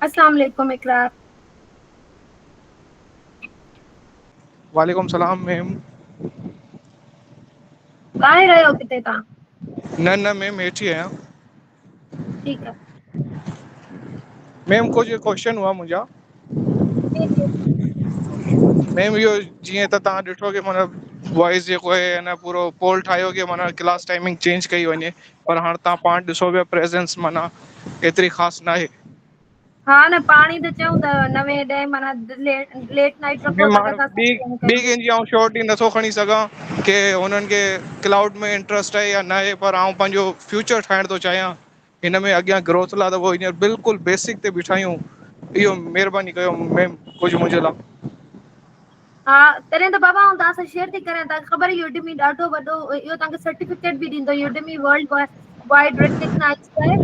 السلام عليڪم اقرا. وعليڪم السلام ميم. ٻاهر آهيو ڪٿي تان؟ نه نه ميم هيٺ ئي آهيان. ٺيڪ آ ميم ڪجھ ڪوشچن ھئا منھنجا جي جي ميم اھو جيئي ته تھان ڏٺو ڪي مون وائس جيڪو آھي ھن پورو پول ٺاھيو ڪي معنيٰ ڪلاس ٽائمنگ چينج ڪئي وڃي پر ھاڻ تھان پاڻ ڏسو پيا پريزينس معنيٰ ايتري خاص ناھي ها نه پاڻي ته چئون ته نوي ڏهين مانا ليٽ نائٽ رکو ته ڏسان ٻي سستي ۾ ٻي ڪيو ڪنهن جي آئون شيورٽي نٿو کڻي سگهان ڪي هنن کي ڪلائوڊ ۾ انٽرسٽ آهي يا نه آهي پر آئون پنهنجو فيوچر ٺاهڻ ٿو چاهيان هن ۾ اڳيان گروٿ لا ته هينئر بلڪل بيسڪ تي بيٺاهيون اهو مهرباني ڪيو ميم ڪجهه منهنجي لا ها تڏهن ته بابا آئون توهان سان شيئر ٿي ڪريان توهان کي خبر اهو ڊمي ڏاڍو وڏو اهو توهان کي سرٽيفڪيٽ به ڏيندو اهو ڊمي ورلڊ ڪا وائڊ ريڪگنائز ڪيو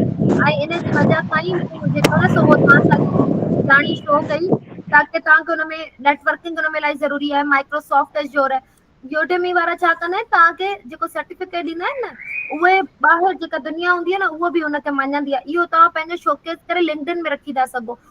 آهي ۽ ان جي وجه سان ئي مون جيڪو آهي سو توهان سان ڄاڻي شو ڪئي تاڪي توهان کي ان ۾ نيٽورڪنگ ان ۾ الائي ضروري آهي مائڪروسافٽ ٽي جوور يوڊمي وارا ڇا ڪندا آهن توهان کي جيڪو سرٽيفڪيٽ ڏيندا آهن نه اهي ٻاهر جيڪا دنيا هوندي آهي نه اهو به هن کي مڃيندي آهي اهو توهان پنهنجو شوڪيس ڪري لنڪڊن ۾ رکي ٿا سگهو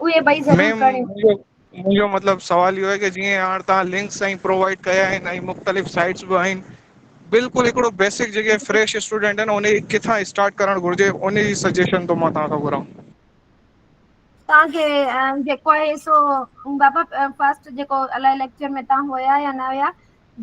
اهي ٻئي ضرور ميم ڪريو مون جو منهنجو مطلب سوال اهو آهي ڪه جيئن هاڻ توهان لنڪس ۽ پرووائڊ ڪيا آهن ۽ مختلف سائٽس به آهن بلڪل هڪڙو بيسڪ جيڪي فريش اسٽوڊنٽ آهن انهي ڪٿان اسٽارٽ ڪرڻ گهرجي انهي جي سجيشن ٿو مان توهان کان گهران توهان کي جيڪو آهي سو بابا فرسٽ جيڪو الائي ليڪچر ۾ توهان هيا يا نه هيا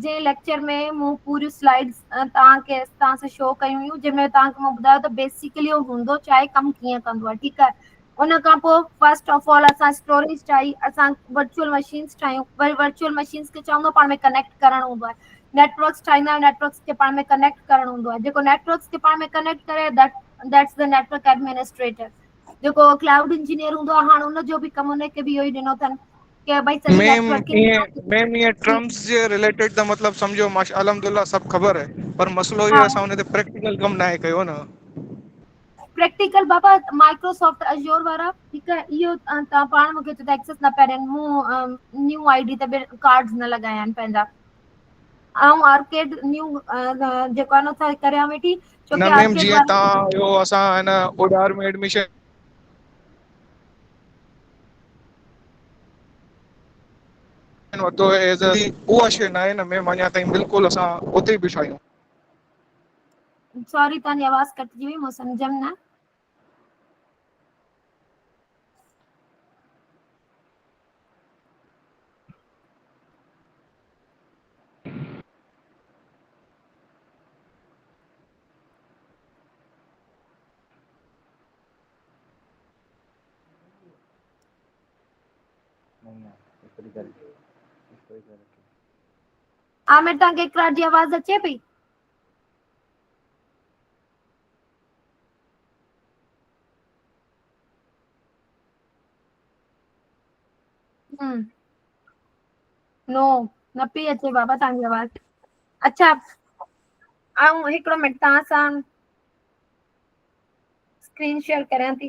جنهن ليڪچر ۾ مون پوريون سلائيڊز توهان کي توهان سان شو ڪيون هيون جنهن ۾ توهان کي مون ٻڌايو ته بيسڪلي اهو هوندو ڇا آهي ڪم ڪيئن ڪندو آهي ٺيڪ آهي ان کان پوء فرسٽ آف آل اسان اسٽوريز ٺاهي اسان ورچوئل مشينس ٺاهيون وري ورچوئل مشينس کي چوندو پاڻ ۾ ڪنيڪٽ ڪرڻ هوندو آهي نيٽورڪس ٺاهيندا آهيون نيٽورڪس کي پاڻ ۾ ڪنيڪٽ ڪرڻ هوندو آهي جيڪو نيٽورڪس کي پاڻ ۾ ڪنيڪٽ ڪري ديٽس دا نيٽورڪ ايڊمنسٽريٽر جيڪو ڪلائوڊ انجنيئر هوندو آهي هاڻ ان جو به ڪم ان کي به اهو ئي ڏنو اٿن ڪي بھي سڄي ميم نيٽورڪنگ ائين ميم ائين جي ٽرمز جي رليٽيڊ ته مطلب سمجھو ماشا الحمد لله سڀ خبر آھي پر مسئلو اھو آھي ھا اسان ان تي پريڪٽيڪل ڪم ناھي ڪيو ن پريڪٽيڪل بابا مائڪروسافٽ ازور وارا ھڪ اھو تھ پاڻ مونکي چؤ تھ ايڪسس نھ پيا ڏين مون نيو آئي ڊي تي بھ ڪارڊ نھ لڳايا آھن پنھنجا آئون آرڪيڊ نيو جيڪو آھي نھ سو ڪريان ويٺي نھ ڇوڪي ميم آرڪيڊ جيئن وارا تھان اھو اسان ھن اوڏار ۾ ايڊمشن وٺو ايز اي اها شي ناهي نه ميم اڃا تائين بلڪل اسان اتي ئي بيٺا آهيون. سوري تنهنجي آواز ڪٽجي وئي مون سمجهيم نه. عامر تان کي اقرار جي آواز اچي پئي نو نه پي اچي بابا تان جي آواز اچھا آئون هڪڙو منٽ تان سان اسڪرين شيئر ڪريان ٿي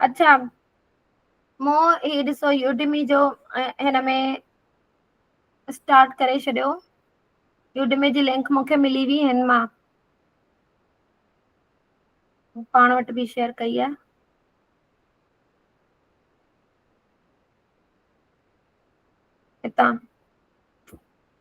اچھا مو هي ڏسو يوڊمي جو هن ۾ اسٽارٽ ڪري ڇڏيو يوڊمي جي لنڪ مونکي ملي وئي هن مان پاڻ وٽ به شيئر ڪئي آ هتان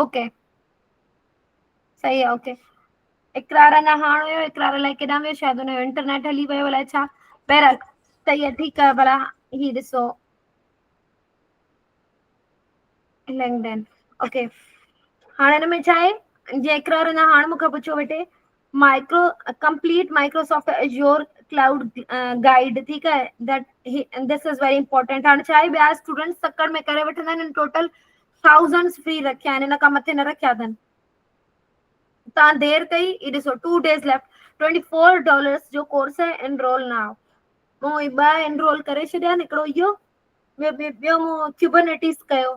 اوڪي صحيح آ اوڪي اقرار اڃا هاڻ ويو اقرار الائي ڪيڏا ويو شايد هن جو انٽرنيٽ هلي ويو الائي ڇا بهرحال صحيح آ ٺيڪ آ ڀلا هي ڏسو لنڪڊن اوڪي هاڻ هن ۾ ڇا آهي جي اقرار اڃا هاڻ مون کان پڇيو ويٺي micro complete Microsoft Azure cloud guide ٺيڪ آهي that this is very important هاڻ ڇا آهي ٻيا اسٽوڊنٽس تڪڙ ۾ ڪري وٺندا آهن ٽوٽل ٿائوزنڊس فري رکيا آهن ان کان مٿي نه رکيا اٿن تان دير ڪئي هي ڏسو two days left twenty four dollars جو ڪورس آهي انرول ناو مون هي ٻه انرول ڪري ڇڏيا آهن هڪڙو اهو ٻيو ٻيو مون ڪيوبرنيٽيز ڪيو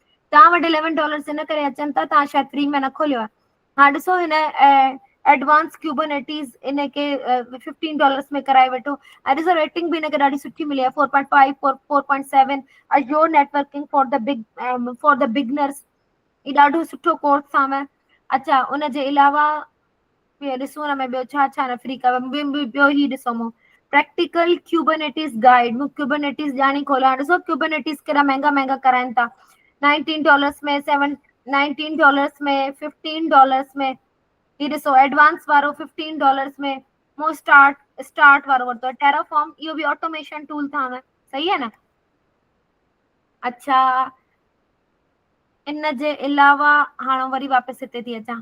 توهان وٽ اليون ڊالرز ان ڪري اچن ٿا توهان شايد فري ۾ نه کوليو آهي هاڻ ڏسو هن ايڊوانس ڪيوبرنيٽيز ان کي ففٽين ڊالرز ۾ ڪرائي وٺو ۽ ڏسو ريٽنگ به هن کي ڏاڍي سٺي ملي آهي four point five four four point seven اجيو networking for the big for the beginners هي ڏاڍو سٺو ڪورس اٿام اچا ان جي علاوه ٻيو ڏسون هن ۾ ٻيو ڇا ڇا نفري ڪيو م م ٻيو هي ڏسو مون پريڪٽيڪل ڪيوبنيٽيز گائيڊ مون ڪيوبنيٽيز ڄاڻي کوليا ڏسو ڪيوبنيٽيز ڪيڏا مهنگا مهنگا ڪرائن ٿا nineteen dollars ۾ seven nineteen dollars ۾ fifteen dollars ۾ هي ڏسو ايڊوانس وارو ففٽين ڊالرس ۾ مون اسٽارٽ اسٽارٽ وارو ورتو آهي ٽيرا فارم اهو به آٽوميشن ٽول ٿا آهن صحيح آهي نه اچھا ان جي علاوه هاڻ وري واپس هتي ٿي اچان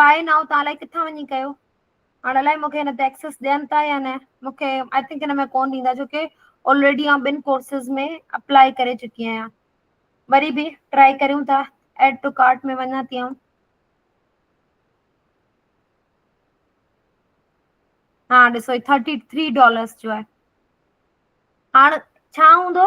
باهه نائو تان الائي ڪٿان وڃي ڪيو هاڻ الائي مونکي هن تي ايڪسس ڏين ٿا يا نه مونکي آئي ٿنڪ هن ۾ ڪون ڏيندا ڇو ڪي آلريڊي آئون ٻن ڪورسز ۾ اپلائي ڪري چڪي آهيان وري به ٽرائي ڪريون ٿا ايڊ ٽو ڪارٽ ۾ وڃان ٿي آئون ها ڏسو ٿرٽي ٿري ڊالرس جو آهي هاڻ ڇا هوندو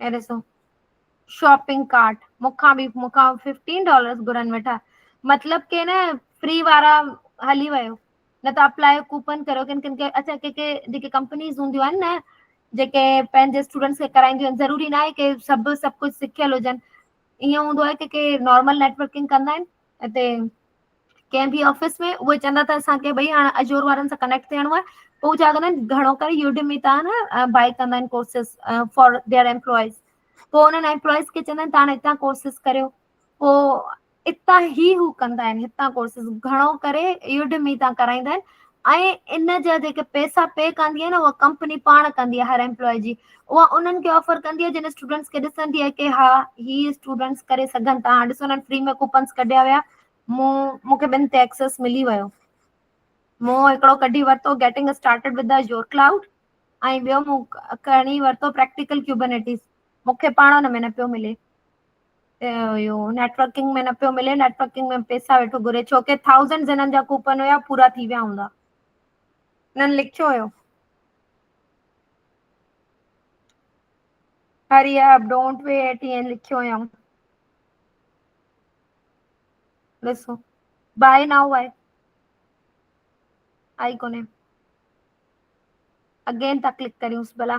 هي ڏسو شاپنگ ڪارٽ مون کان به مون کان ففٽين ڊالرس گهرن ويٺا مطلب ڪي نه فري وارا هلي ويو نه ته اپلاء ڪوپن ڪريو ڪن ڪن کي اچا ڪي ڪي جيڪي ڪمپنيز هونديون آهن نه جيڪي پنهنجي اسٽوڊنٽس کي ڪرائينديون آهن ضروري ناهي ڪي سڀ سڀ ڪجهه سکيل هجن ائين هوندو آهي ڪي ڪي نارمل نيٽورڪنگ ڪندا آهن اتي ڪنهن به آفيس ۾ اهي چوندا ته اسانکي ڀئي هاڻ اجور وارن سان ڪنيڪٽ ٿيڻو آهي پوء چا ڪندا آهن گهڻو ڪري يوڊيو مي تان بائي ڪندا آهن ڪورسز فار ديئر امپلائز پوء انهن امپلائز کي چوندا آهن تان هتان ڪورسز ڪريو پوء اتان هي هو ڪندا آهن هتان ڪورسز گهڻو ڪري يوڊيو مي تان ڪرائيندا آهن ۽ ان جا جيڪي پئسا پي ڪندي آهي نه اها ڪمپني پاڻ ڪندي آهي هر ايمپلاء جي اها انهن کي آفر ڪندي آهي جن اسٽوڊنٽس کي ڏسندي آهي ڪي ها هي اسٽوڊنٽس ڪري سگهن ٿا هاڻ ڏسو فري ۾ ڪوپنس ڪڍيا ويا مون مونکي ٻن تي اڪسس ملي ويو مون هڪڙو ڪڍي ورتو getting started with your cloud ۽ ٻيو مون کڻي ورتو پريڪٽيڪل ڪيوبنيٽيز مونکي پاڻ ان ۾ نه پيو ملي اهو نيٽورڪنگ ۾ نه پيو ملي نيٽورڪنگ ۾ پئسا ويٺو گهري ڇوڪري ٿائوزنڊ جنن جا ڪوپن هيا پورا ٿي ويا هوندا هنن لکيو هيو hurry up don't wear T N لکيو هيم ڏسو بائي نائو آهي آئي ڪونهي اگين ٿا ڪلڪ ڪريونس ڀلا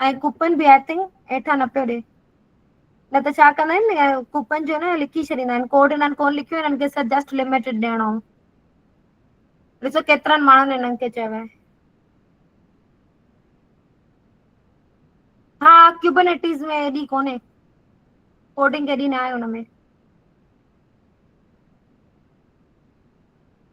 ۽ ڪوپن به آء ٿنڪ هيٺان نه پيو ڏي. نه ته ڇا ڪندا آهن نه ڪوپن جو نه لکي ڇڏيندا آهن ڪوڊ هنن ڪون لکيو هنن کي صرف جسٽ لمٽيڊ ڏيڻو هو. ڏسو ڪيترن ماڻهن هنن کي چيو آهي. ها ڪيوبنيٽيز ۾ ايڏي ڪونهي ڪوڊنگ ايڏي نه آهي هن ۾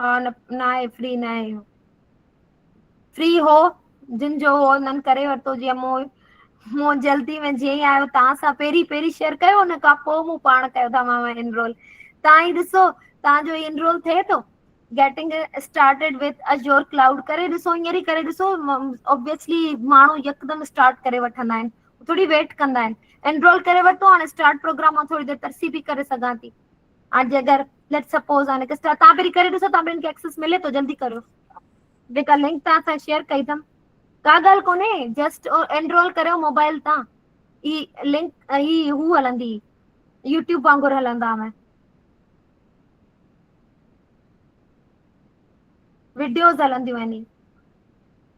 ها نه ناهي فري نه آهي اهو فري هو جن جو هو هنن ڪري ورتو جيئن مون مون جلدي ۾ جيئن ئي آيو توهان سان پهرين پهرين شيئر ڪيو ان کان پوء مون پاڻ ڪيو ٿا ماما انرول توهان ئي ڏسو توهان جو انرول ٿئي ٿو getting started with Azure cloud ڪري ڏسو هينئر ئي ڪري ڏسو اوبيسلي ماڻهو يڪدم اسٽارٽ ڪري وٺندا آهن ٿوري ويٽ ڪندا آهن انرول ڪري ورتو هاڻي اسٽارٽ پروگرام مان ٿوري دير ترسي به ڪري سگهان ٿي. ها جي اگر ليٽ سپوز هاڻي ڪسٽا تان پهري ڪري ڏسو تان پهري ايڪسس ملي ٿو جلدي ڪريو. جيڪا لنڪ تان سان شيئر ڪئي تم ڪا ڳالهه ڪونهي جسٽ انرول ڪريو موبائل تان هي لنڪ هي هو هلندي يوٽيوب وانگر هلندا ۾ وڊيوز هلنديون آهن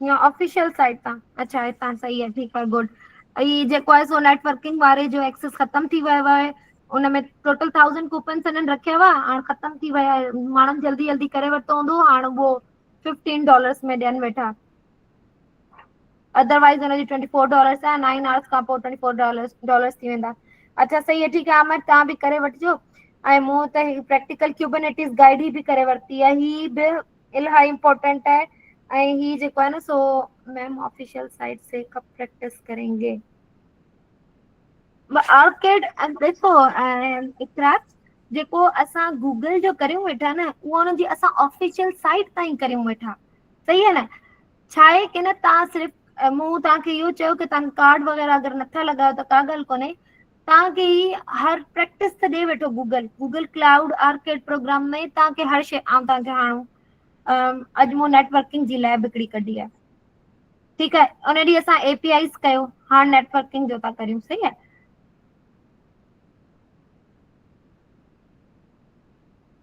يا آفيشل سائٽ تان اچا هتان صحيح آهي ٺيڪ آهي گڊ اي جيڪو آهي سو نيٽورڪنگ واري جو ايڪسس ختم ٿي ويو آهي ان ۾ ٽوٽل ٿائزنڊ ڪوپنس هنن رکيا هئا هاڻ ختم ٿي ويا ماڻهن جلدي جلدي ڪري ورتو هوندو هاڻ اهو ففٽين ڊالرس ۾ ڏين ويٺا ادروائز هن جي ٽوئنٽي فور ڊالرس آهن نائن آورس کان پوء ٽوئنٽي فور ڊالرس ڊالرس ٿي ويندا اچا صحيح آهي ٺيڪ آهي عامر تهان به ڪري وٺجو ۽ مون ته هي پريڪٽيڪل ڪيوبنٽيز گائيڊ هي به ڪري ورتي آهي هي به الاهي امپورٽنٽ آهي ۽ هي جيڪو آهي نه سو ميم آفيشل سائيٽ سي ڪب پريڪٽس ڪرينگي. آرڪڊ ڏسو اقرا جيڪو اسان گوگل جو ڪريون ويٺا نه اهو ان جي اسان آفيشل سائيٽ تائين ڪريون ويٺا صحيح آهي نه ڇا آهي ڪي نه تان صرف مون تان کي اهو چيو ڪي تان ڪارڊ وغيره اگر نٿا لڳايو ته ڪا ڳالهه ڪونهي توهان کي هي هر پريڪٽس ته ڏئي ويٺو Google Google cloud arcade program ۾ توهان کي هر شي آئون توهان کي هاڻو اڄ مون نيٽورڪنگ جي ليب هڪڙي ڪڍي آهي ٺيڪ آهي ان ڏينهن اسان اي پي آئيز ڪيو هاڻ نيٽورڪنگ جو ٿا ڪريون صحيح آهي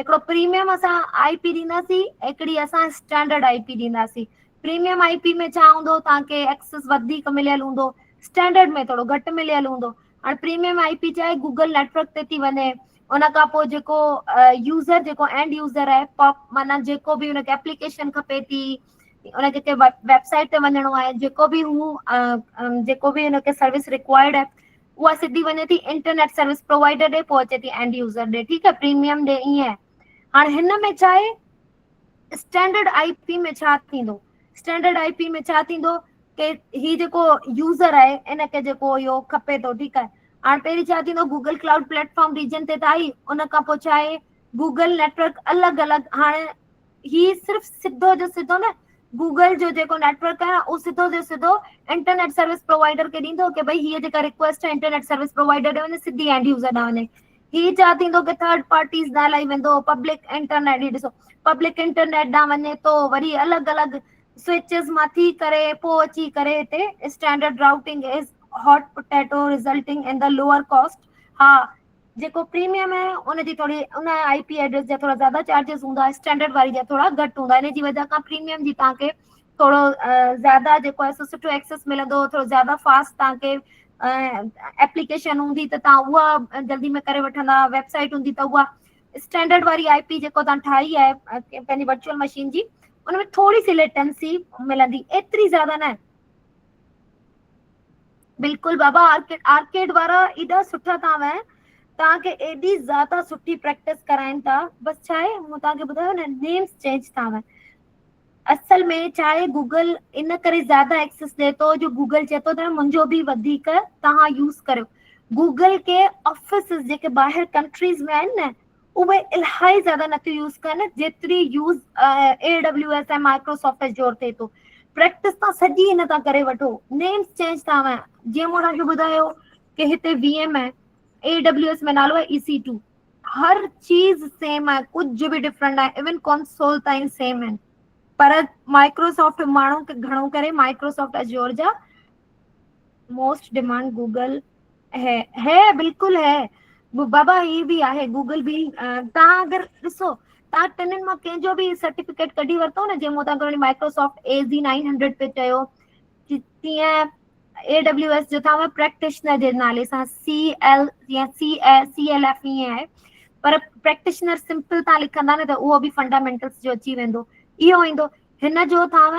هڪڙو پريميم اسان آئي پي ڏينداسين هڪڙي اسان اسٽينڊرڊ آئي پي ڏينداسين پريميم آئي پي ۾ ڇا هوندو تهان کي ايڪسس وڌيڪ مليل هوندو اسٽينڊرڊ ۾ ٿورو گهٽ مليل هوندو هاڻ پريميم آئي پي چاهي گوگل نيٽورڪ تي ٿي وڃي ان کان پوء جيڪو يوزر جيڪو اينڊ يوزر آهي پاپ معنيٰ جيڪو به هن کي اپليڪيشن کپي ٿي هن کي ويب سائيٽ تي وڃڻو آهي جيڪو به هو جيڪو به هن کي سروس رڪوائرڊ آهي اها سڌي وڃي ٿي انٽرنيٽ سروس پرووائڊر ڏي پوء اچي ٿي اينڊ يوزر ڏي ٺيڪ آهي پريميم ڏي ائين هاڻ هن ۾ ڇا آهي اسٽينڊرڊ آئي پي ۾ ڇا ٿيندو اسٽينڊرڊ آئي پي ۾ ڇا ٿيندو ڪي هي جيڪو يوزر آهي ان کي جيڪو اهو کپي ٿو ٺيڪ آهي هاڻ پهرين ڇا ٿيندو Google cloud platform region تي ته آئي ان کان پوء ڇا آهي گوگل نيٽورڪ الڳ الڳ هاڻي هي صرف سڌو جو سڌو نه گوگل جو جيڪو نيٽورڪ آهي اهو سڌو جو سڌو انٽرنيٽ سروس پرووائڊر کي ڏيندو ڪي ڀئي هيء جيڪا رڪويسٽ آهي انٽرنيٽ سروس پرووائڊر ڏي وڃي سڌي اينڊ يوزر ڏانهن وڃي هي چا ٿيندو ڪي ٿرڊ پارٽيز ڏانهن الائي ويندو پبلڪ انٽرنيٽ هي ڏسو پبلڪ انٽرنيٽ ڏانهن وڃي ٿو وري الڳ الڳ سوئچز مان ٿي ڪري پوء اچي ڪري هتي standard routing is hot potato resulting in the lower cost ها جيڪو پريميم آهي ان جي توڙي ان آئي پي ائڊريس جا ٿورا زياده چارجز هوندا اسٽينڊرڊ واري جا ٿورا گهٽ هوندا ان جي وجهه کان پريميم جي تان کي ٿورو زياده جيڪو آهي سو سٺو ايڪسس ملندو ٿورو زياده فاسٽ تان کي ايپليڪيشن هوندي ته تان اها جلدي ۾ ڪري وٺندا ويب سائيٽ هوندي ته اها اسٽينڊرڊ واري آئي پي جيڪو تان ٺاهي آهي پنهنجي ورچوئل مشين جي ان ۾ ٿوري سي ليٽنسي ملندي ايتري زياده نه بلڪل بابا آرڪڊ آرڪڊ وارا ايڏا سٺا تان وين تان کي ايڏي زياده سٺي پريڪٽس ڪرائين ٿا بس ڇا آهي مون تان کي ٻڌايو نه نيم چينج ٿا وين اصل ۾ ڇا آهي گوگل ان ڪري زياده ايڪسس ڏي ٿو جو گوگل چي ٿو ته منهنجو به وڌيڪ تان يوز ڪريو گوگل کي آفيسز جيڪي ٻاهر ڪنٽريز ۾ آهن نه اهي الائي زياده نٿيون يوز ڪن جيتري use A W S ۽ Microsoft Azure ٿئي ٿو پريڪٽس تان سڄي هن تان ڪري وٺو نيمس چينج ٿا هوان جيئن مون توهان کي ٻڌايو ڪي هتي وي ايم آهي اي ڊبليو ايس ۾ نالو آهي اي سي ٽو هر چيز سيم آهي ڪجهه به ڊفرنٽ ناهي ايون ڪونسول تائين سيم آهن پر مائڪروسافٽ ماڻهو گهڻو ڪري مائڪروسافٽ اجور جا موسٽ ڊيمانڊ گوگل هي هي بلڪل هي بابا هي به آهي گوگل به تان اگر ڏسو تان ٽنن مان ڪنهن جو به سرٽيفڪيٽ ڪڍي ورتو نه جنهن مون تان گهڻي Microsoft A Z nine hundred پي چيو تيئن اي ڊبليو ايس جو تان پريڪٽيشنر جي نالي سان سي ايل يا C E C L F ائين آهي پر پريڪٽيشنر سمپل تان لکندا نه ته اهو به فنڊامينٽلس جو اچي ويندو اهو ايندو هن جو تان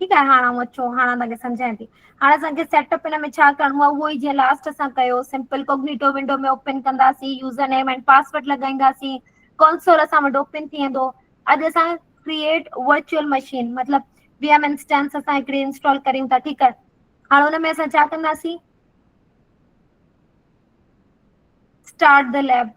ٺيڪ آهي هاڻ آئون اچو هاڻ تهانکي سمجهايان ٿي. هاڻ اسانکي سيٽ اپ هن ۾ ڇا ڪرڻو آهي اهو ئي جيئن لاسٽ اسان ڪيو سمپل ڪوگنيٽو ونڊو ۾ اوپن ڪنداسين يوزر نيم اينڊ پاسورڊ لڳائينداسين ڪونسور اسان وٽ اوپن ٿي ويندو اڄ اسان ڪريئٽ ورچوئل مشين مطلب وي ايم انسٽنس اسان هڪڙي انسٽال ڪريون ٿا ٺيڪ آهي هاڻ هن ۾ اسان ڇا ڪنداسين اسٽارٽ د ليب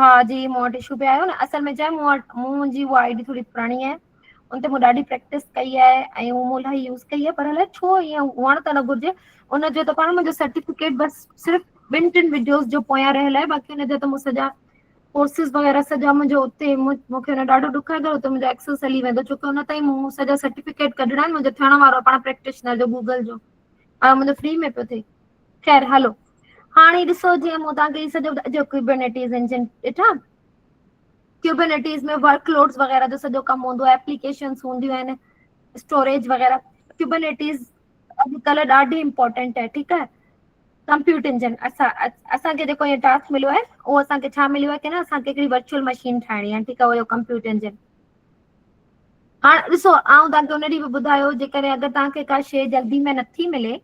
ها جي مون وٽ اشو به آيو نه اصل ۾ ڇا مون وٽ منهنجي اها آئي ڊي ٿوري پراڻي آهي. ان تي مون ڏاڍي پريڪٽس ڪئي آهي ۽ مون الاهي يوز ڪئي آهي پر الائي ڇو ائين هئڻ ته نه گهرجي. ان جو ته پاڻ منهنجو سرٽيفڪيٽ بس صرف ٻن ٽن وڊيوز جو پويان رهيل آهي باقي هن جا ته مون سڄا ڪورسز وغيره سڄا منهنجو اتي مونکي هن ڏاڍو ڏک آهي ته منهنجو ايڪسس هلي ويندو ڇو ڪونه تئين مون سڄا سرٽيفڪيٽ ڪڍڻا آهن منهنجو ٿيڻ وارو آهي پاڻ پريڪٽيشنر جو گوگل جو ۽ منهنجو فري ۾ پيو ٿئي. خير هلو هاڻي ڏسو جيئن مون توهان کي هي سڄو ٻڌايو ڪيوبرنيٽيز انجن ڏٺا ڪيوبرنيٽيز ۾ ورڪ لوڊس وغيره جو سڄو ڪم هوندو آهي اپليڪيشنس هونديون آهن اسٽوريج وغيره ڪيوبرنيٽيز اڄڪلهه ڏاڍي امپورٽنٽ آهي ٺيڪ آهي ڪمپيوٽر انجن اسان اسانکي جيڪو هي ٽاسڪ مليو آهي اهو اسانکي ڇا مليو آهي ڪي نه اسانکي هڪڙي ورچوئل مشين ٺاهڻي آهي ٺيڪ آهي اهو ڪمپيوٽر انجن هاڻ ڏسو آئون توهان کي ان ڏينهن به ٻڌايو جيڪڏهن اگر توهان کي ڪا شي جلدي ۾ نٿي ملي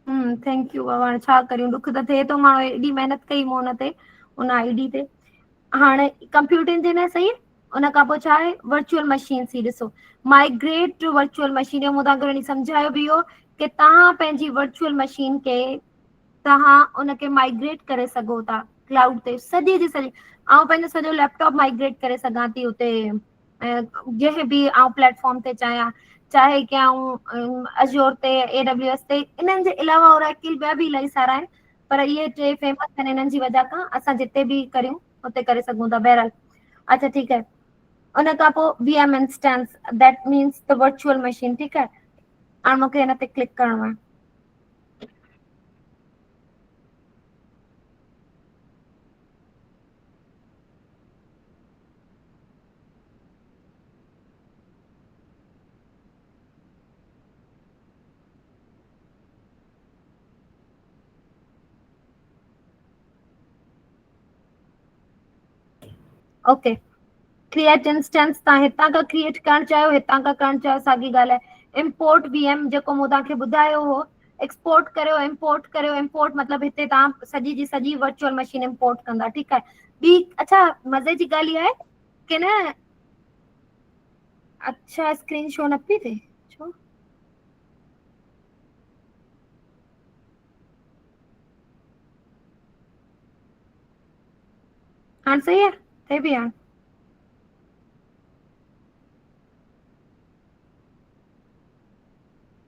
ھمم ٿينڪ يو بابا ھاڻي ڇا ڪريون ڏک ته ٿئي ٿو ماڻھو ايڏي محنت ڪئي مون تي ان آء ڊي تي ھاڻي ڪمپيوٽرن تي نه سھي ان کان پوء ڇا آھي ورچوئل مشينس ھي ڏسو مائگريٽ ٽو ورچوئل مشين مون توھان کي وڃي سمجھايو به اھو ڪي توھان پنھنجي ورچوئل مشين کي توھان ان کي مائگريٽ ڪري سگھو ٿا ڪلائوڊ تي سڄي جي سڄي آئون پنھنجو سڄو ليپٽاپ مائگريٽ ڪري سگھان ٿي اتي جنهن به آئون پليٽ فارم تي چاهيان چاهي ڪي آئون ازيور تي اي ڊبليو ايس تي انهن جي علاوه اوراڪل ٻيا به الائي سارا آهن پر اهي ٽي فيمس آهن انهن جي وجه کان اسان جتي به ڪريون اتي ڪري سگهون ٿا بهرحال اچا ٺيڪ آهي ان کان پوء V M instance that means ته ورچوئل مشين ٺيڪ آهي هاڻي مونکي هن تي ڪلڪ ڪرڻو آهي اوڪي ڪريئٽ انسٽنس تان هتان کان ڪريئٽ ڪرڻ چاهيو هتان کان ڪرڻ چاهيو ساڳي ڳالهه آهي امپورٽ وي ايم جيڪو مون تان کي ٻڌايو هو ايڪسپورٽ ڪريو امپورٽ ڪريو امپورٽ مطلب هتي تهان سڄي جي سڄي ورچوئل مشين امپورٽ ڪندا ٺيڪ آهي ٻي اڇا مزي جي ڳالهه اها آهي ڪي نه اڇا اسڪرين شو نه پي ٿئي ڇو هاڻ صحيح آهي ٿئي پي هاڻ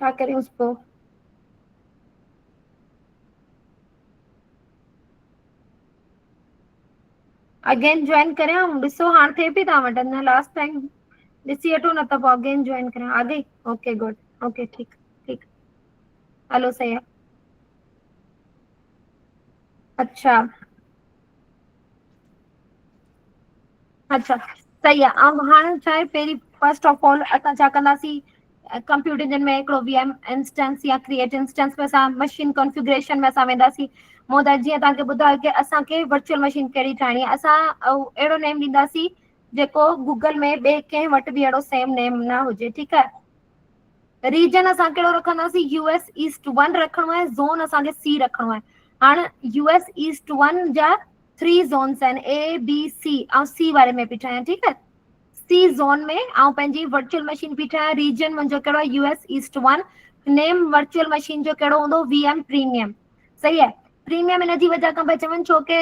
ڇا ڪريونس پوء؟ اگين جوائن ڪريان ڏسو ھاڻ ٿئي پئي توھان وٽ اڃا لاسٽ ٽائم ڏسي وٺو نه ته پوء اگين جوائن ڪريان آ گئي اوڪي گڊ اوڪي ٺيڪ ٺيڪ ھلو سھي آ اچھا اچھا صحيح آ ۽ هاڻ ڇا آهي پهرين فرسٽ آف آل اسان ڇا ڪنداسين ڪمپيوٽر جن ۾ هڪڙو وي ايم انسٽنس يا ڪريئٽ انسٽنس ۾ اسان مشين ڪنفيگريشن ۾ اسان وينداسين مون تان جيئن توهان کي ٻڌايو ته اسانکي ورچوئل مشين ڪهڙي ٺاهڻي آ اسان او اهڙو نيم ڏيندا سين جيڪو گوگل ۾ ٻي ڪنهن وٽ به اهڙو سيم نيم نه هجي ٺيڪ آ ريجن اسان ڪهڙو رکنداسين يو ايس ايسٽ ون رکڻو آهي زون اسان کي سي رکڻو آهي هاڻ يو ايس ايسٽ ون جا ٿري زونس آهن اي بي سي آئون سي واري ۾ پئي ٺاهيان ٺيڪ آهي سي زون ۾ آئون پنهنجي ورچوئل مشين پئي ٺاهيان ريجن منهنجو ڪهڙو آهي U S east one name virtual machine جو ڪهڙو هوندو وي ايم پريميم صحيح آهي پريميم ان جي وجه کان پيا چون ڇو ڪي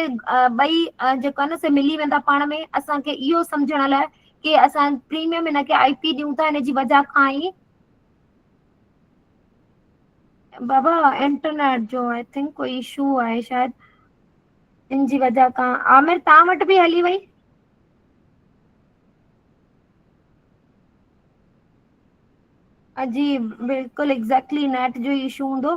ٻئي جيڪو آهي نه سي ملي ويندا پاڻ ۾ اسان کي اهو سمجهڻ لاء ڪي اسان پريميم هن کي آئي پي ڏيون ٿا هن جي وجه کان ئي بابا انٽرنيٽ جو آئي ٿنڪ ڪو اشو آهي شايد ان جي وجه کان عامر تان وٽ به هلي وئي جي بلڪل ايگزيڪٽلي نيٽ جو اشو هوندو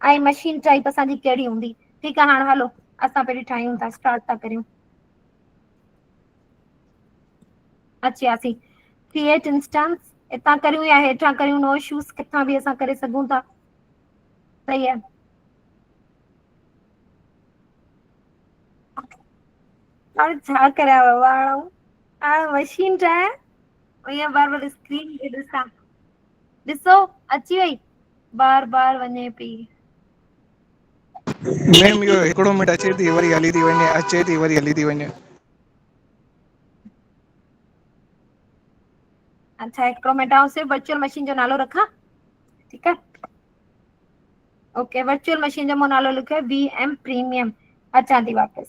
۽ مشين ٽائيپ اسان جي ڪهڙي هوندي ٺيڪ آ هاڻ هلو اسان پهرين ٺاهيون ٿا اسٽارٽ ٿا ڪريون. اچي وياسي ڪريئيٽ انسٽنس هتان ڪريون يا هيٺان ڪريون نو شوز ڪٿان به اسان ڪري سگهون ٿا صحيح آ. هاڻ ڇا ڪريان بابا هاڻ آئون هاڻ مشين ٺاهيان ائين بار بار اسڪرين کي ڏسان ڏسو اچي وئي بار بار وڃي پئي. ميم اهو هڪڙو منٽ اچي ٿي وري هلي ٿي وڃي اچي ٿي وري هلي ٿي وڃي. اچا هڪڙو منٽ آئون صرف ورچوئل مشين جو نالو رکان ٺيڪ آ. اوڪي ورچوئل مشين جو مون نالو لکيو آ وي ايم پريميم اچان ٿي واپس.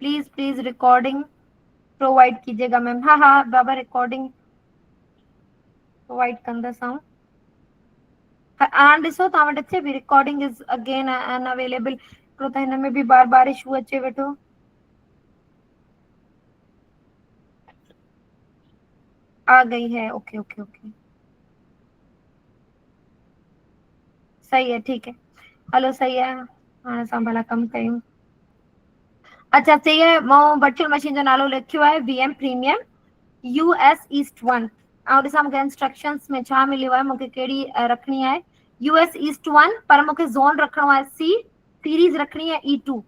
پليز پليز رڪارڊنگ پرووائيڊ ڪيجي گا ميم ها ها بابا رڪارڊنگ پرووائيڊ ڪندس آئون هاڻ ڏسو توهان وٽ اچي پي recording is again unavailable هڪڙو ته هن ۾ به بار بار اشو اچي ويٺو آ گئي هي اوڪي اوڪي اوڪي صحيح آ ٺيڪ آ هلو صحيح آ هاڻ اسان ڀلا ڪم ڪيون. اچا چئي آهي مئو ورچوئل مشين جو نالو لکيو آهي V M premium US S east ون آئون ڏسان مونکي انسٽرڪشنس ۾ ڇا مليو آهي مونکي ڪهڙي رکڻي آهي يو ايس ايسٽ ون پر مونکي زون رکڻو آهي سی سيريز رکڻي آهي اي ٽو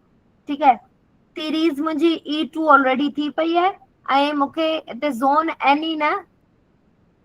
ٺيڪ آهي سيريز منهنجي اي ٽو آلريڊي ٿي پئي آهي ۽ مونکي هتي زون اين اي نه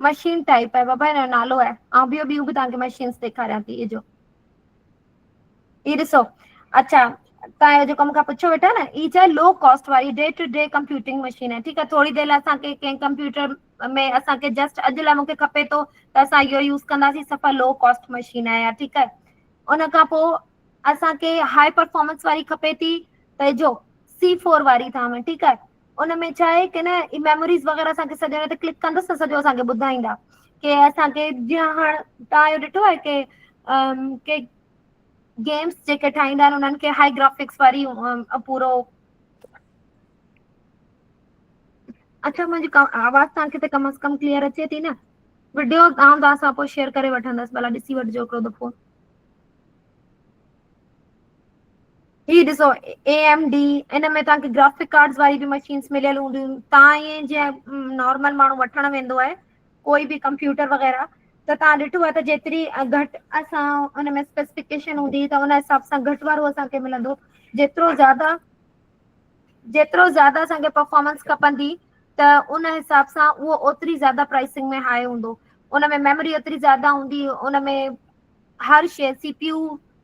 مشين ٽائپ آهي بابا هن جو نالو آهي آئون ٻيو ٻيون به تهانکي مشينز ڏيکاريان ٿي اجو هي ڏسو اچھا تان اهو جيڪو مونکان پڇيو ويٺا نه هي ڇا لو ڪاسٽ واري D two D computing machine آهي ٺيڪ آهي ٿوري دير لاء اسانکي ڪنهن ڪمپيوٽر ۾ اسانکي جسٽ اڄ لاء مونکي کپي ٿو ته اسان اهو يوز ڪنداسين سفا لو ڪاسٽ مشين آهي يار ٺيڪ آهي ان کان پو اسانکي هاء پرفارمنس واري کپي ٿي ته جو سی فور واري ٿا ٺيڪ آهي ان ۾ ڇا آهي ڪنه هي ميموريز وغيره اسان کي سڄڻ تي ڪلڪ ڪندس ته سڄو اسان کي ٻڌائيندا. ڪي اسانکي جيئن هاڻ تان جو ڏٺو آهي ڪي ا ڪي گيمس جيڪي ٺاهيندا آهن انهن کي هاء گرافڪس واري ا پورو اچو منهنجي ڪا آواز تانکي ته ڪم از ڪم ڪليئر اچي ٿي نه؟ وڊيو آئون توهان سان پو شيئر ڪري وٺندس ڀلا ڏسي وٺجو هڪڙو دفعو. هي ڏسو اي ايم ڊي ان ۾ توهان کي گرافڪ ڪارڊس واري به مشينس مليل هونديون توهان ائين جيئن نارمل ماڻهو وٺڻ ويندو آهي ڪوئي به ڪمپيوٽر وغيره ته توهان ڏٺو آهي ته جيتري گهٽ اسان ان ۾ اسپيسفڪيشن هوندي ته ان حساب سان گهٽ وارو اسان کي ملندو جيترو زياده جيترو زياده اسانکي پرفارمنس کپندي ته ان حساب سان اهو اوتري زياده پرائسنگ ۾ هاء هوندو ان ۾ ميموري اوتري زياده هوندي ان ۾ هر شي سي پي يو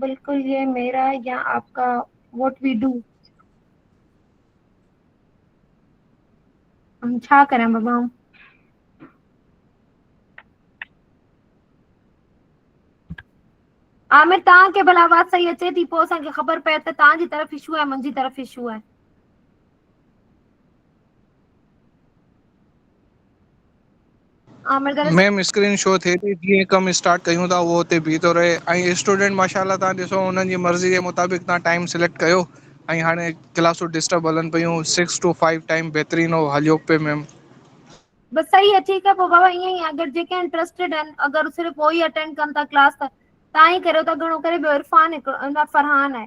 بلڪل يي ميرا يا آپ ڪا واٽ وي ڊو. ھون ڇا ڪريان بابا آئون. عامر توهان کي ڀلا آواز صحيح اچي ٿي پوء اسان کي خبر پئي ته توهان جي طرف اشو آهي منهنجي طرف اشو آهي. عامر دراصل ميم اسڪرين شو ٿئي ٿي جيئن ڪم اسٽارٽ ڪيون ٿا اهو اتي بيهتو رهي ۽ اسٽوڊنٽ ماشاء الله تهان ڏسو هن جي مرضي جي مطابق تهان ٽائم سليڪٽ ڪيو ۽ هاڻي ڪلاسون ڊسٽرب هلن پيون سڪس ٽو فائيو ٽائم بهترين هو هليو پئي ميم بس صحيح آ ٺيڪ آ پو بابا ائين ئي آ اگر جيڪي انٽرسٽيڊ آهن اگر صرف اهو ئي اٽينڊ ڪن ٿا ڪلاس ته تان ئي ڪريو ٿا گهڻو ڪري ٻيو عرفان هڪڙو فرحان آهي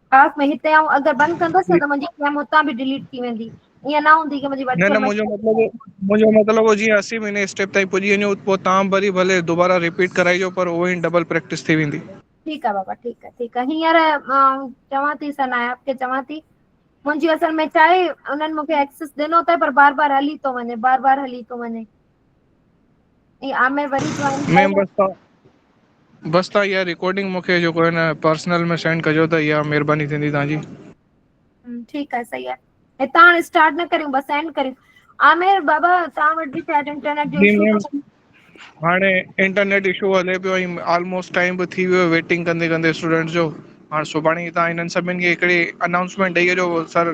خاص ۾ هتي آئون اگر بند ڪندس نه ته منهنجي سم هتان به ڊيليٽ ٿي ويندي ائين نه هوندي منهنجي نه نه وٽسپ منهنجو مشين مطلب منهنجو مطلب هو جيئن اسين مهيني اسٽيپ تائين پڄي وڃو پوء تان وري ڀلي دوباره رپيٽ ڪرائجو پر اهو ئي ڊبل پريڪٽس ٿي ويندي ٺيڪ آ بابا ٺيڪ آ ٺيڪ آ هينئر آئون چوان ٿي سنايا کي چوان ٿي منهنجي اصل ۾ ڇا آهي انهن مونکي ايڪسس ڏنو تين پر بار بار هلي ٿو وڃي بار بار هلي ٿو وڃي جي آء مي وري جوائن ڪئي ميم آ بس تھان بس تھان اھا رڪارڊنگ مونکي جيڪو ھن پرسنل ۾ سينڊ ڪجو ته اھا مھرباني ٿيندي تھان جي ھمم ٺيڪ آ سھي آ ھتان ھاڻي اسٽارٽ نه ڪريون بس اينڊ ڪريون عامر بابا تھان وٽ به شايد انٽرنيٽ جو ايشو ٿو ھلي ھاڻي انٽرنيٽ اشو ھلي پيو ۽ آلموسٽ ٽائم به ٿي ويو آ ويٽنگ ڪندي ڪندي اسٽوڊنٽس جو ھاڻ سڀاڻي ھتان ھنن سڀن کي ھڪڙي انائونسمينٽ ڏئي اچو سر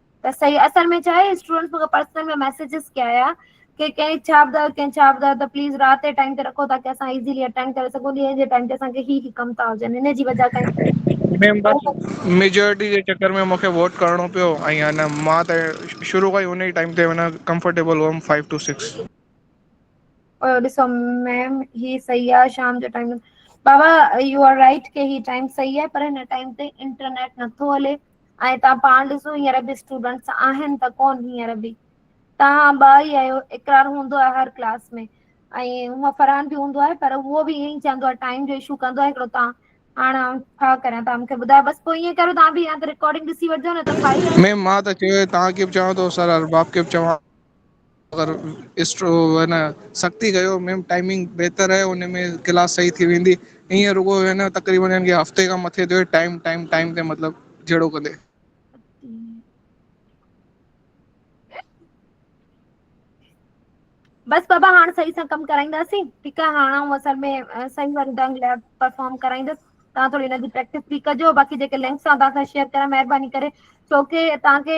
ته صحيح اصل ۾ ڇا آهي اسٽوڊنٽس مون کي پرسنل ۾ ميسجز ڪيا هيا ڪي ڪئين ڇا ٻڌايو ڪئين ڇا ٻڌايو ته پليز رات جي ٽائيم تي رکو تاڪي اسان ايزلي اٽينڊ ڪري سگهون ڏينهن جي ٽائيم تي اسان کي هي هي ڪم ٿا هجن هن جي وجه ڪري ميم بس ميجارٽي جي چڪر ۾ مونکي ووٽ ڪرڻو پيو ۽ ان مان ته شروع کان ئي ان ئي ٽائيم تي معنيٰ ڪمفرٽيبل هئم فائو ٽو سڪس پيو ڏسو ميم هي صحيح آ شام جو ٽائيم بابا يو آر رائٽ ڪي هي ٽائيم صحيح آهي پر هن ٽائيم تي انٽرنيٽ نٿو هلي ۽ تان پاڻ ڏسو هينئر به اسٽوڊنٽس آهن ته ڪون هينئر به تان ٻه ئي آهيو اقرار هوندو آهي هر ڪلاس ۾. ۽ هونء فرحان به هوندو آهي پر اهو به ائين ئي چوندو آهي ٽائيم جو اشو ڪندو آهي هڪڙو تان هاڻ آئون ڇا ڪريان تان مونکي ٻڌايو بس پوء ائين ڪريو تان به يا ته رڪارڊنگ ڏسي وٺجو نه ته فائل ميم مان ته چيو ئي توهان کي به چوان ٿو سر ارباب کي به چوان اگر اسٽرو ن سختي ڪيو ميم ٽائمنگ بهتر آهي ان ۾ ڪلاس صحيح ٿي ويندي ائين رڳو هي ن تقريبن هن کي هفتي کان مٿي ٿيو ٽائم ٽائم ٽائم تي مطلب جهڙو ڪندي بس بابا هاڻ صحيح سان ڪم ڪرائينداسين ٺيڪ آ هاڻ آئون اصل ۾ صحيح وارو ڍنگ لاء پرفارم ڪرائيندس تهان ٿوري هن جي پريڪٽس به ڪجو باقي جيڪي لنڪس آن تهان سان شيئر ڪريان مهرباني ڪري ڇو ڪي تهان کي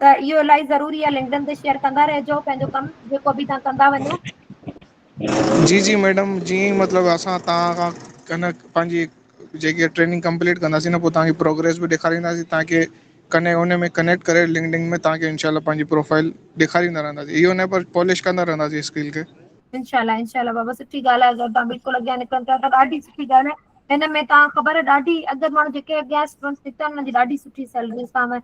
ته اهو الائي ضروري آ لنڪڊن تي شيئر ڪندا رهجو پنهنجو ڪم جيڪو به تان ڪندا وڃو جي جي ميڊم جي مطلب اسان تان کان ڪنه پنهنجي جيڪي ٽريننگ ڪمپليٽ ڪنداسين ن پوء تان کي پروگرس به ڏيکارينداسين تان کي ڪنه ان ۾ ڪنيڪٽ ڪري لنڪڊن ۾ تان کي انشاء الله پنهنجي پروفائل ڏيکاريندا رهنداسين اهو نه پر پالش ڪندا رهنداسين اسڪل کي انشاء الله انشاء الله بابا سٺي ڳالھ آ اگر تان بلڪل اڳيان نڪرڻ چاهيو ته ڏاڍي سٺي ڳالھ آ هن ۾ تان خبر ڏاڍي اڳ ماڻهو جيڪي اڳيان اسٽوڊنٽس نڪتا ان جي ڏاڍي سٺي سيلريز تان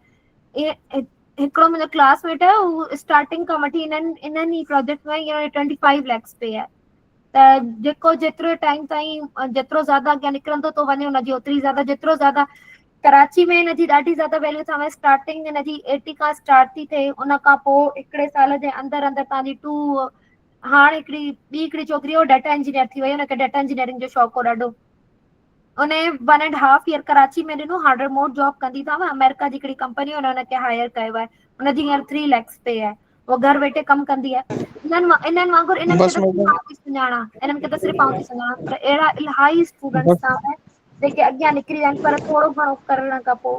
هڪڙو منهنجو ڪلاس ميٽ آهي هو اسٽارٽنگ کان وٺي هن انهن ئي پروجيڪٽ ۾ هينئر ٽوئنٽي فائيو ليڪس پي آهي ته جيڪو جيترو ٽائيم تائين جيترو زياده اڳيان نڪرندو ٿو وڃي هن جي اوتري زياده جيترو زياده ڪراچي ۾ هن جي ڏاڍي زياده ويليو ٿي اسٽارٽنگ هن جي ايٽي کان اسٽارٽ ٿي ٿئي ان کان پو هڪڙي سال جي اندر اندر تهانجي ٽو هاڻ هڪڙي ٻي هڪڙي ڇوڪري هو ڊاٽا انجنيئر ٿي وئي هن کي ڊاٽا انجنيئرنگ جو شوق هو ڏاڍو ان one and half year Karachi ۾ ڏنو هاڻ ريموٽ جاب ڪندي تھا آمريڪا جي هڪڙي ڪمپني هن ان کي هائر ڪيو آهي ان جي هينئر ٿري ليڪس پي آهي هو گهر ويٺي ڪم ڪندي آهي انهن انهن وانگر انهن کي بس ته صرف مطلب آئون ٿي سڃاڻان انهن کي ته صرف آئون ٿي سڃاڻان پر اهڙا الاهي اسٽوڊنٽس بس تان جيڪي اڳيان نڪري ويا آهن پر ٿورو گهڻو ڪرڻ کان پوء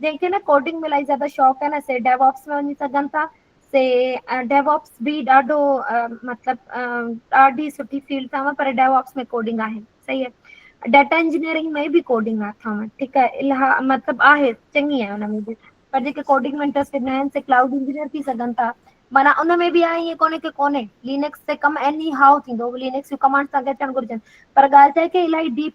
جنهن کي نه ڪوڊنگ ملائي زياده شوق آهي نه سي ڊيو آپس ۾ وڃي سگهن ٿا سي ڊيو آپس به ڏاڍو مطلب ڏاڍي سٺي فيلڊ اٿم پر ڊيو آپس ۾ ڪوڊنگ آهي صحيح آهي ڊاٽا انجنيئرنگ ۾ به ڪوڊنگ آ ٿاو ٺيڪ آ الاها مطلب آهي چڱي آهي ان ۾ به پر جيڪي ڪوڊنگ ۾ انٽرسٽ نه آهن سي ڪلائوڊ انجنيئر ٿي سگهن ٿا معنيٰ ان ۾ به آهي ائين ڪونهي ڪي ڪونهي لينڪس تي ڪم ايني هائو ٿيندو لينڪس جون ڪمانڊس تهان کي اچڻ گهرجن پر ڳالهه ڇا آهي ڪي الاهي ڊيپ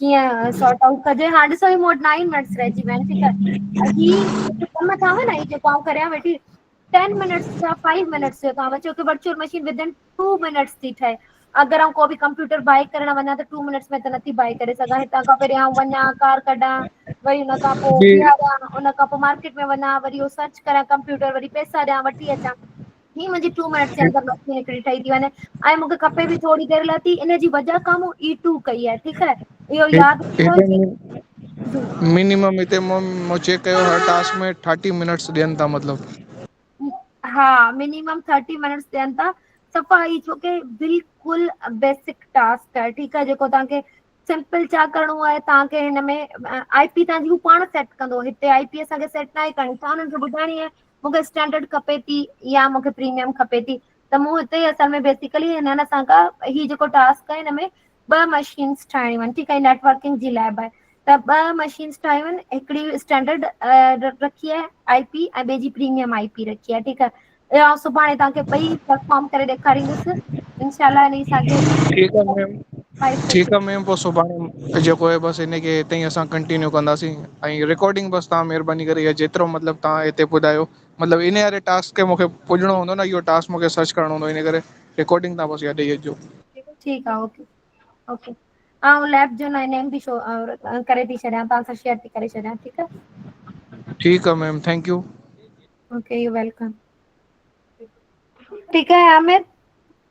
ڪيئن سارٽ آئوٽ ڪجي ھا ڏسو ھي مون وٽ ناھي منٽس رھجي ويا آھن ٺيڪ آ ھي جيڪي ڪم ٿا ھون ھي جيڪو آئون ڪريان ويٺي ٽين منٽس ٿيا فائيو منٽس ٿيو توھان چؤ ڪي virtual machine within two minutes ٿي ٺھي اگر آئون ڪو به ڪمپيوٽر بائي ڪرڻ وڃان ته ٽو منٽس ۾ ته نٿي بائي ڪري سگھان ھتان کان پھرين آئون وڃان ڪار ڪڍان وري ھن کان پوء جي بيھاريان ان کان پوء مارڪيٽ ۾ وڃان وري اھو سرچ ڪريان ڪمپيوٽر وري پئسا ڏيان وٺي اچان ھي منھنجي ٽو منٽس جي اندر ٻه ٿي ھڪڙي ٺھي ٿي وڃي ۽ مونکي کپي به ٿوري دير لاء ھي ان جي وجھ کان مون اي ٽو ڪئي آھي ٺيڪ آھي اھو ياد رکجو جي مينيمم ھتي مون مون چيڪ ڪيو ھر ٽاسڪ ۾ ٿرٽي منٽس ڏين ٿا مطلب ھا مينيمم ٿرٽي منٽس ڏين ٿا صفا اھي ڇوڪري بلڪل بيسڪ ٽاسڪ آھي ٺيڪ آھي جيڪو توھانکي سمپل چا ڪرڻو آھي توھانکي ھن ۾ آئي پي توھانجي ھو پاڻ سيٽ ڪندو ھتي آئي پي اسانکي سيٽ ناھي ڪرڻي توھان ھنن کي ٻڌائڻي آھي مون کي اسٽينڊرڊ کپي ٿي يا مون کي پريميم کپي ٿي ته مون هتي ئي اصل ۾ بيسڪلي هنن اسان کان هي جيڪو ٽاسڪ آهي هن ۾ ٻه مشينس ٺاهڻيون آهن ٺيڪ آهي نيٽورڪنگ جي لئب آهي ته ٻه مشينس ٺاهيون آهن هڪڙي اسٽينڊرڊ رکي آهي آء پي ۽ ٻئي جي پريميم آء پي رکي آهي ٺيڪ آهي ٻيو سڀاڻي توهان کي ٻئي پرفارم ڪري ڏيکاريندس انشاء الله هن ساڳي ٺيڪ آهي ميم ٺيڪ آ ميم پو سڀاڻي جيڪو آهي بس هن کي هتي اسان ڪنٽينيو ڪنداسين ۽ رڪارڊنگ بس تهان مهرباني ڪري اها جيترو مطلب تهان هتي ٻڌايو مطلب ان واري ٽاسڪ کي مونکي پڄڻو هوندو نه اهو ٽاسڪ مونکي سرچ ڪرڻو هوندو ان ڪري رڪارڊنگ تهان بس اها ڏئي اچجو ٺيڪ آ اوڪي اوڪي آئون ليب جو نيم به شو ڪري ٿي ڇڏيان تهان سان شيئر ٿي ڪري ڇڏيان ٺيڪ آ ٺيڪ آ ma'am thank you okay you welcome ٺيڪ آ عامر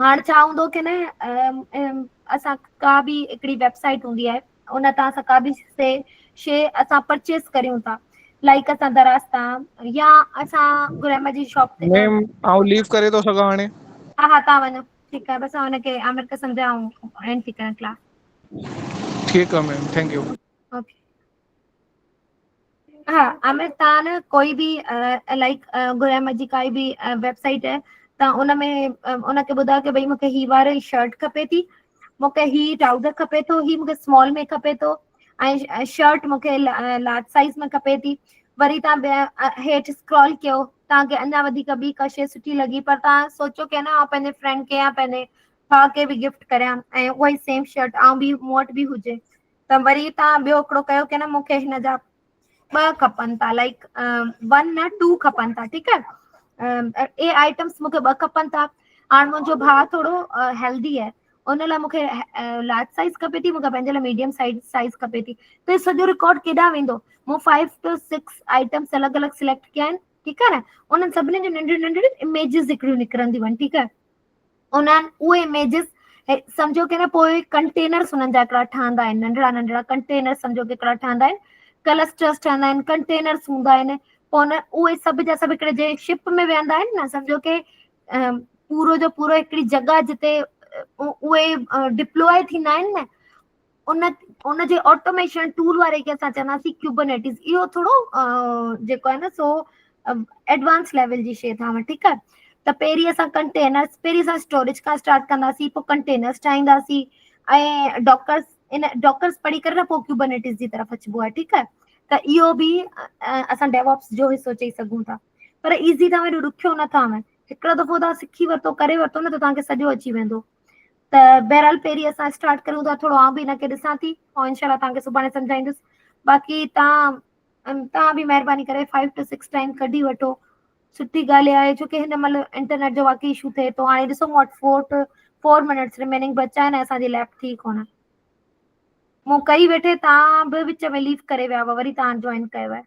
هاڻ ڇا هوندو ڪي نه اسان ڪا به هڪڙي ويب سائيٽ هوندي آهي ان تان اسان ڪا به سي شي اسان پرچيز ڪريون ٿا لائڪ اسان دراز تان يا اسان گرامر جي شاپ تي ميم آئون ليو ڪري ٿو سگهان هاڻي ها ها تان وڃو ٺيڪ آهي بس هن کي عامر کي سمجهاء ۽ اينڊ ٿي ڪريان ڪلاس ٺيڪ آ ميم ٿينڪ يو اوڪي ها عامر تان نه ڪوئي به لائڪ گرم جي ڪائي به ويب سائيٽ آهي تان ان ۾ ان کي ٻڌاء ته ڀئي مونکي هي واري شرٽ کپي ٿي مونکي هي ٽرائوزر کپي ٿو هي مونکي سمال ۾ کپي ٿو ۽ شرٽ مونکي لارج سائيز ۾ کپي ٿي وري تان هيٺ اسڪرول ڪيو تان کي اڃا وڌيڪ به ڪا شي سٺي لڳي پر تان سوچو ڪي نه آ پنهنجي فرينڊ کي يا پنهنجي ڀا کي به گفٽ ڪريان ۽ اهي سيم شرٽ آ به مون وٽ به هجي ته وري تان ٻيو هڪڙو ڪيو ڪي نه مونکي هن جا ٻه کپن ٿا لائڪ ون نه ٽو کپن ٿا ٺيڪ آهي اي آئٽمس مونکي ٻه کپن ٿا هاڻ منهنجو ڀاء ٿورو هيلدي آهي ان لاء مونکي لارج سائز کپي ٿي مونکي پنهنجي لاء ميڊيم سائز سائز کپي ٿي ته سڄو رڪارڊ ڪيڏا ويندو مون فائيو ٽو سڪس آئٽمس الڳ الڳ سليڪٽ ڪيا آهن ٺيڪ آهي نه انهن سڀني جون ننڍڙيون ننڍڙيون اميجز هڪڙيون نڪرنديون آهن ٺيڪ آهي انهن اهي اميجز سمجهو ڪي نه پوء ڪنٽينرس انهن جا هڪڙا ٺهندا آهن ننڍڙا ننڍڙا ڪنٽينر سمجهو ڪي هڪڙا ٺهندا آهن ڪلسٽرس ٺهندا آهن ڪنٽينرس هوندا آهن پوء ان اهي سڀ جا سڀ هڪڙي جنهن شپ ۾ ويهندا آهن نه سمجهو ڪي پورو جو پورو هڪڙي جڳهه جتي اهي ڊپلوء ٿيندا آهن نه ان ان جي آٽوميشن ٽول واري کي اسان چونداسين ڪيوبنيٽس اهو ٿورو جيڪو آهي نه سو ايڊوانس ليول جي شي ٿا ٺيڪ آهي ته پهرين اسان ڪنٽينر پهرين اسان اسٽوريج کان اسٽارٽ ڪنداسين پوء ڪنٽينرس ٺاهينداسين ۽ ڊاڪرس ان ڊاڪرس پڙهي ڪري نه پوء ڪيوبنيٽس جي طرف اچبو آهي ٺيڪ آهي ته اهو به اسان ڊيوپس جو حصو چئي سگهون ٿا پر ايزي ٿا ايڏو ڏکيو نٿا آهن هڪڙو دفعو تان سکي ورتو ڪري ورتو نه ته تان کي سڄو اچي ويندو ته بهرحال پهرين اسان اسٽارٽ ڪريون ٿا ٿورو آئون به هن کي ڏسان ٿي پوء انشاء الله تهانکي سڀاڻي سمجهائيندس باقي تهان تهان به مهرباني ڪري فائيو ٽو سڪس ٽائيم ڪڍي وٺو سٺي ڳالهه اها آهي ڇو ڪي هن مهل انٽرنيٽ جو واقعي اشو ٿئي ٿو هاڻي ڏسو مون وٽ four two four minutes remaining بچا آهن اسان جي ليب ٿي ڪونه مون ڪئي ويٺي تان به وچ ۾ ليف ڪري ويا هئا وري تان جوائن ڪيو آهي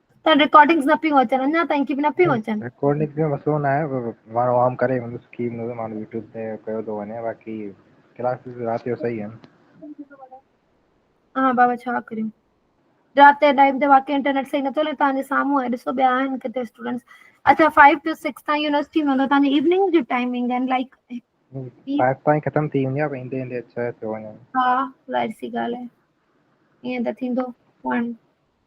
ته رڪارڊنگس نه پيون اچن اڃا تائين ڪي نه پيون اچن رڪارڊنگ جو مسئلو نه آهي پر ماڻهو عام ڪري مطلب سکي مطلب ماڻهو يوٽيوب تي ڪيو ٿو وڃي باقي ڪلاسز رات جو صحيح آهن ها بابا ڇا ڪريون رات جي ٽائيم تي واقعي انٽرنيٽ صحيح نٿو هلي تهنجي سامهون آهي ڏسو ٻيا آهن ڪٿي اسٽوڊنٽس اچا فائيو ٽو سڪس تائين يونيورسٽي مطلب تهنجي ايوننگ جي ٽائمنگ آهن لائڪ فائيو تائين ختم ٿي ويندي آهي ايندي ايندي ڇهه ٿيو وڃن ها ظاهر سي ڳالهه آهي ائين ته ٿيندو ون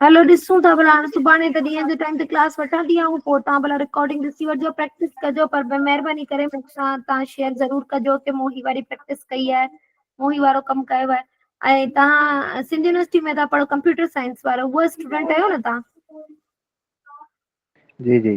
هلو ڏسون ٿا ڀلا هاڻي سڀاڻي هڪ ڏينهن جي ٽائيم تي ڪلاس وٺان ٿي آئون پوء تهان ڀلا رڪارڊنگ ڏسي وٺجو پريڪٽس ڪجو پر مهرباني ڪري مون سان تهان شيئر ضرور ڪجو ته مون هي واري پريڪٽس ڪئي آهي مون هي وارو ڪم ڪيو آهي ۽ تهان سنڌ يونيورسٽي ۾ تهان پڙهو ڪمپيوٽر سائنس وارو اهو اسٽوڊنٽ آهيو نه تهان جي جي